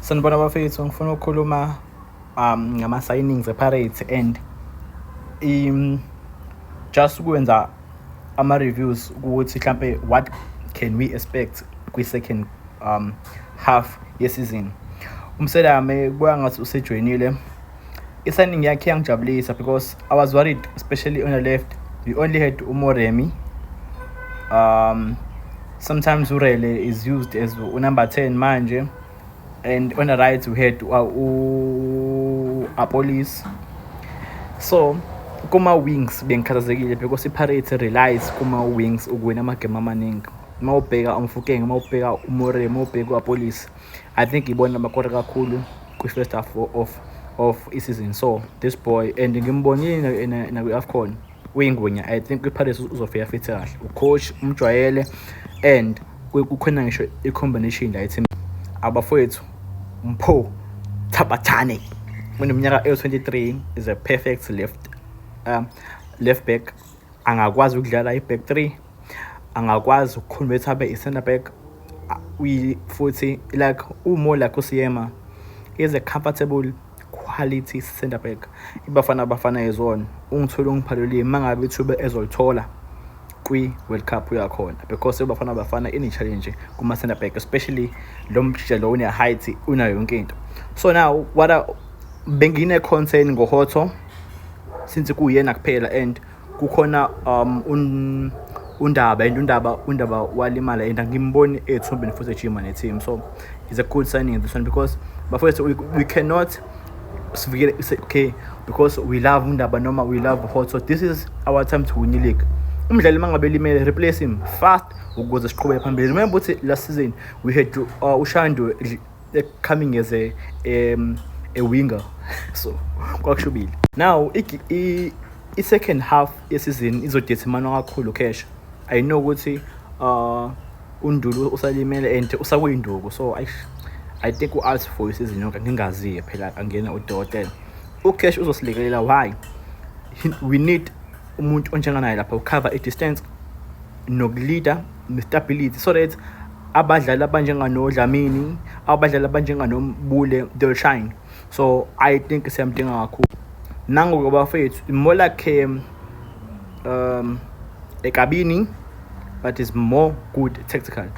Sanibona bafethu ngifuna ukukhuluma um ngama signings ePirates and um just ukwenza ama reviews ukuthi mhlambe what can we expect kwi second um half yesizini. Umselame kuya ngathi usejoyinile I-signing yakhe yangijabulisa because I was worried especially on the left we only had uMoremi um sometimes uRele is used as unumber 10 manje and on the right we had uh, u-Apolis so kuma-wings bengikhathazekile because i-pirates relies kuma-wings ukuwina amagemu amaningi uma ubheka umfukenge uma ubheka umore uma ubheka uapolisi I think ibona bakore kakhulu kwi-first half of of i-season so this boy and ngimbonile nakwi-afcon uyingwenya i think kwi-pirates uzofika fithi kahle ucoach umjwayele and kukhona ngisho i-combination la ethim abafowethu mpho thabathane uneminyaka ewu-23 is a perfect left um, left back angakwazi ukudlala i-back three angakwazi ukuconvert abe i-center back futhi like umo like usiyema is a comfortable quality center back ibafana abafana yezona ungithola ungiphalulile uma ngabe ithuba ezolithola kwi-world cup uyakhona because ibafana abafana ine-challenge kuma-center back especially lo mjija lo une-height unayo yonke into so now what bengine-concern ngohotho since kuyena kuphela and kukhona um un, undaba and undaba undaba walimala and angimboni ethumbeni futhi ejima ne-team so it's a good signing this one because bafowethu we, we cannot sivikele okay because we love undaba noma we love hot so this is our time to win the league umdlali uma ngabe limele replace him fast ukuze siqhubeke phambili remember ukuthi last season we had to, uh, ushandu coming as a um, a winger so kwakushubile now i-second half yesizini izodetermine kakhulu cash i know ukuthi uh, undulu usalimele and usakuyinduku so I, i think u-alt for isizini yonke ngingaziye phela angena udokotela ucash uzosilekelela why we need umuntu onjenganaye lapha ucover i-distance nokuleader ne-stability so that abadlali abanjenganoDlamini abadlali abanjenganoBule they'll shine so I think siyamdinga kakhulu nangoke bafethu more like um, um ekabini but is more good tactical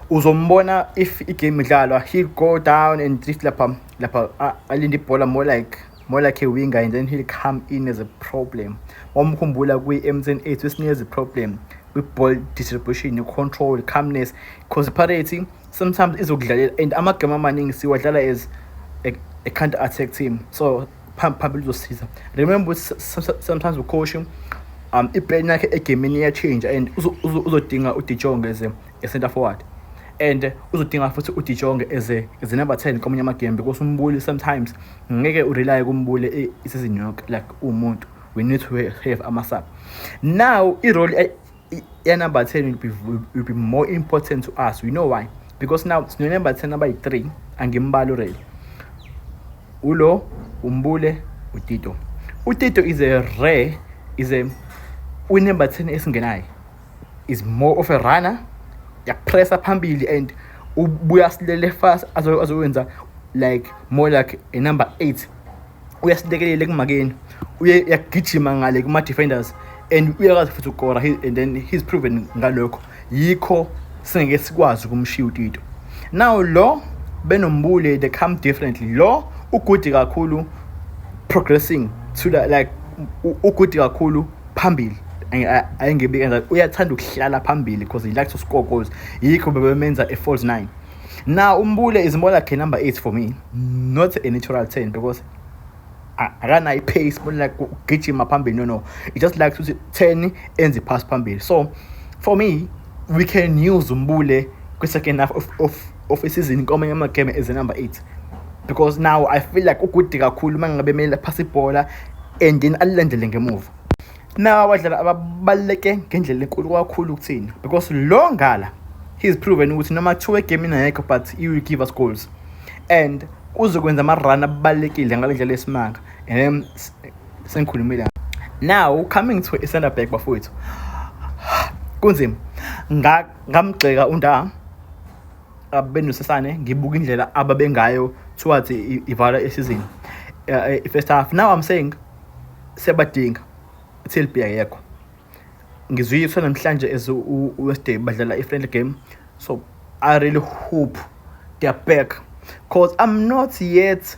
uzombona if igame idlalwa he'll go down and drift lapha lapha alinde ibhola more like more like a winger and then he'll come in as a problem wamkhumbula kwi-mtn 8 wesinikeza i-problem kwi-ball distribution i-control calmness because parity sometimes izokudlalela and amagame amaningi siwadlala as a, a counter attack team so phambili uzosiza remember sometimes ucoach um iplan yakhe egemini iyachinja and uzodinga udijonge ze e-centre forward and uzodinga futhi udijonge as a, as a number 10 komunye amagembe because umbuli sometimes ngeke urelye kumbuli e, isizini yonke like uwumuntu we need to have ama-sub now irole yenumber 10 will be, will be more important to us we know why because now sinenember 10 number 3 angimbali urele ulo umbule utito utito is a rare is a unember 10 esingenayo is more of a runner yakupressa phambili and ubuya silele fast azowenza like more like a number 8 uyasilekelele kumakeni uye yagijima ngale kuma defenders and uyakwazi futhi ukora and then he's proven ngalokho yikho singeke sikwazi ukumshiya utito now lo benombule they come differently lo ugudi kakhulu progressing to the, like ugudi kakhulu phambili ayengebi kanjalo uyathanda ukuhlala phambili because he likes to score goals yikho bebemenza e-falls nine now umbule is more like a number eight for me not a natural ten because akanayo i-pace more like ugijima phambili no no it just likes ukuthi ten enze iphasi phambili so for me we can use umbule kwi-second half of, of, of isizini kwamanye amagame as a number eight because now i feel like ugude kakhulu uma ngabe kumele aphase ibhola and then alilandele ngemuva nawo abadlali ababaluleke ngendlela enkulu kakhulu kuthina because lo ngala he's proven ukuthi noma kuthiwa egemini ayekho but he will give us goals and uzokwenza ama-run abalulekile ngale ndlela yesimanga um sengikhulumile now coming to i-center back bafowethu kunzima ngamgxeka unda abenosasane ngibuka indlela ababengayo towards ivala isizini eh, i-first half now i'm saying siyabadinga till be ayekho ngizuyiswa namhlanje as uwestday badlala i-friendly game so i really hope they're back because i'm not yet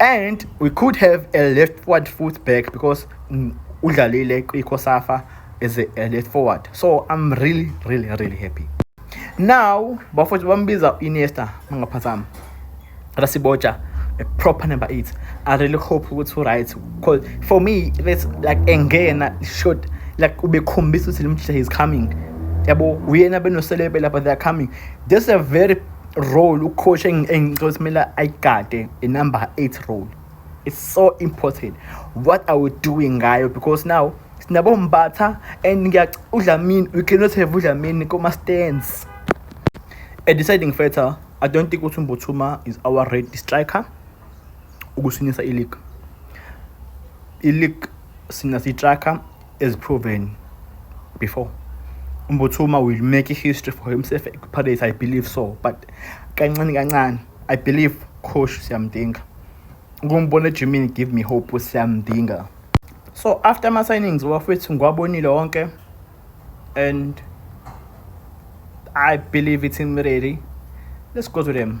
and we could have a left forward foot back because mm, udlalile kwiCosafa as a, a left forward so I'm really really really happy now bafowethu bambiza Iniesta mangaphazama Rasiboja a proper number 8 I really hope ukuthi uright because for me that's like engena short like ubekhombisa ukuthi limhle is coming yabo uyena benoselebe lapha they are coming this is a very role ucoach engicela simele ayigade inumber 8 role it's so important what are we doing ngayo because now sinabo mbatha and udlamini we cannot have udlamini kuma-stands a deciding factor i don't think ukuthi umbuthuma is our red striker ukusinisa ileague ileague sina sitracker as proven before umbuthuma will make a history for himself ekupirates i believe so but kancane kancane i believe coach siyamdinga ukumbona ejimini give me hope siyamdinga so after ama-signings wafethu ngiwabonile wonke and i believe it's him ready let's go to them